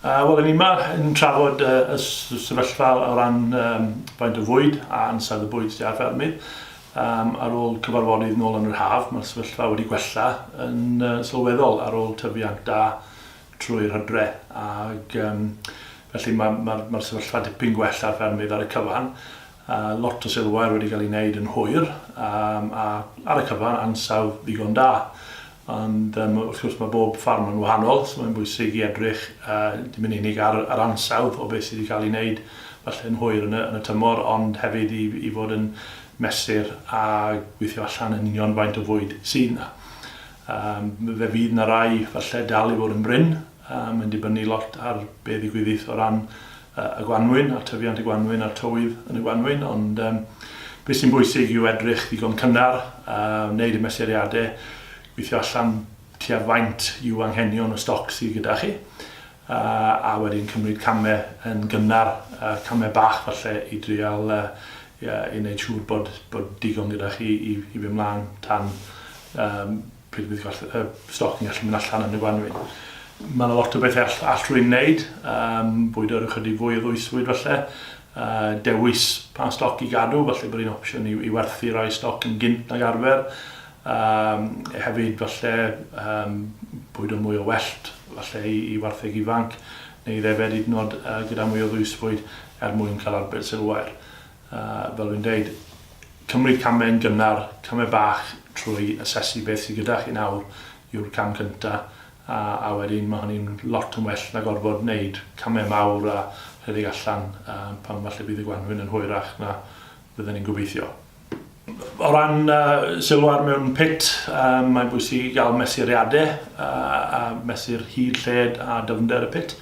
Uh, Wel, yn yma yn trafod uh, y sefyllfa o ran um, faint o fwyd a ansawdd y bwyd sydd ar ffermydd. Um, ar ôl cyfarfodydd nôl yn yr haf, mae'r sefyllfa wedi gwella yn uh, sylweddol ar ôl tyfiant da trwy'r hydre. Ac, um, felly mae'r ma, ma, ma sefyllfa dipyn gwell ar ffermydd ar y cyfan. A lot o silwair wedi cael ei wneud yn hwyr a ar y cyfan ansawdd ddigon da. Ond wrth gwrs mae bob ffarm yn wahanol so mae'n bwysig i edrych dim yn unig ar yr ansawdd o beth sydd wedi cael ei wneud falle yn hwyr yn y tymor ond hefyd i fod yn mesur a gweithio allan yn union faint o fwyd sydd 'na. Fe fydd 'na rai falle dal i fod yn brin Mae'n dibynnu lot ar be ddigwyddith o ran y gwanwyn a tyfiant y gwanwyn a'r tywydd yn y gwanwyn, ond be sy'n bwysig yw edrych ddigon cynnar, wneud y mesuriadau, gweithio allan tua faint yw anghenion y stoc sydd gyda chi, a wedyn cymryd camau yn gynnar, camau bach falle i dreial wneud siŵr bod digon gyda chi i fynd mlaen tan pryd bydd gwerth y stoc yn gallu mynd allan yn y gwanwyn. Mae yna lot o bethau all, all rwy'n wneud, um, bwydo ar ychydig fwy o ddwysfwyd falle, uh, dewis pa stoc i gadw, falle bod un opsiwn i, i werthu rai stoc yn gynt nag arfer, um, hefyd falle um, bwydo mwy o wellt falle i, i wartheg ifanc, neu ddefed hyd yn oed uh, gyda mwy o ddwysfwyd er mwyn cael arbed sylwair. A, fel dwi'n dweud, cymryd camau yn gynnar, camau bach trwy asesu beth sydd gyda chi nawr yw'r cam cyntaf, a, a wedyn mae hynny'n lot yn well na gorfod gwneud camau mawr a rhedeg allan pan falle bydd y gwanwyn yn hwyrach na fydden ni'n gobeithio. O ran sylw ar mewn pit, mae'n bwysig i gael mesuriadau a mesur hyd, lled a dyfnder y pit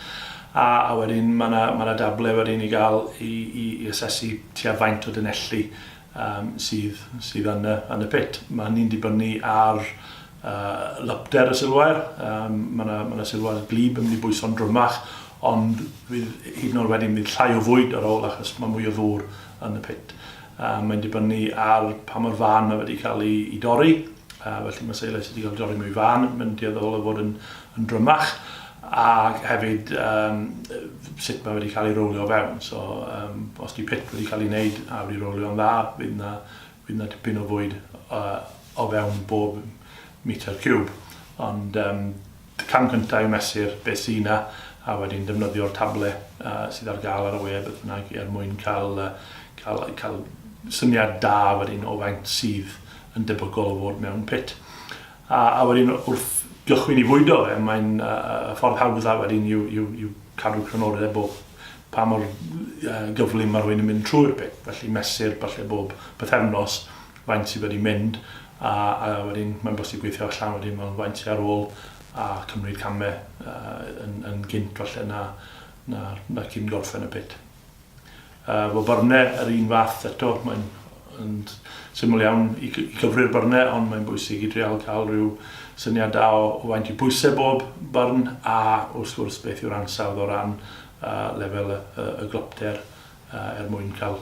a wedyn mae 'na dablau wedyn i gael i asesu tua faint o dunelli sydd yn y pit. Mae hynny'n dibynnu ar lypder y silwair, mae 'na silwair gwlyb yn mynd i bwyso'n drymach ond hyd yn oed wedyn bydd llai o fwyd ar ôl achos mae mwy o ddŵr yn y pit. Yy mae'n dibynnu ar pa mor fân mae wedi cael ei ei dorri, yy felly mae seilau sy' 'di cael eu dorri mwy fân yn yn dueddol o fod yn yn drymach, ac hefyd yym yy sut mae wedi cael ei rowlio o fewn. So yym os 'di pit wedi cael ei wneud a wedi rowlio'n dda, fydd 'na fydd 'na dipyn o fwyd yy o fewn bob metre ciwb. Ond yym Y cam cyntaf yw mesur beth sy' 'na a wedyn defnyddio'r table sydd ar gael ar y we, beth bynnag, er mwyn cael cael cael syniad da wedyn o faint sydd yn debygol o fod mewn pit. A a wedyn wrth gychwyn i fwydo fe, mae'n y ffordd hawdda wedyn yw yw yw cadw crynodeb o pa mor gyflym mae rhywun yn mynd trwy'r pit, felly mesur falle bob pythefnos faint sydd wedi mynd a a wedyn mae'n bosib gweithio allan wedyn mewn faint sy ar ôl a cymryd camau yy yn yn gynt falle na na na cyn gorffen y pit. Yy wel byrne yr un fath eto mae'n yn syml iawn i i gyfri'r byrne ond mae'n bwysig i dreial cael rhyw syniad da o o faint i pwysau bob byrn a wrth gwrs beth yw'r ansawdd o ran yy lefel y y y glopter yy er mwyn cael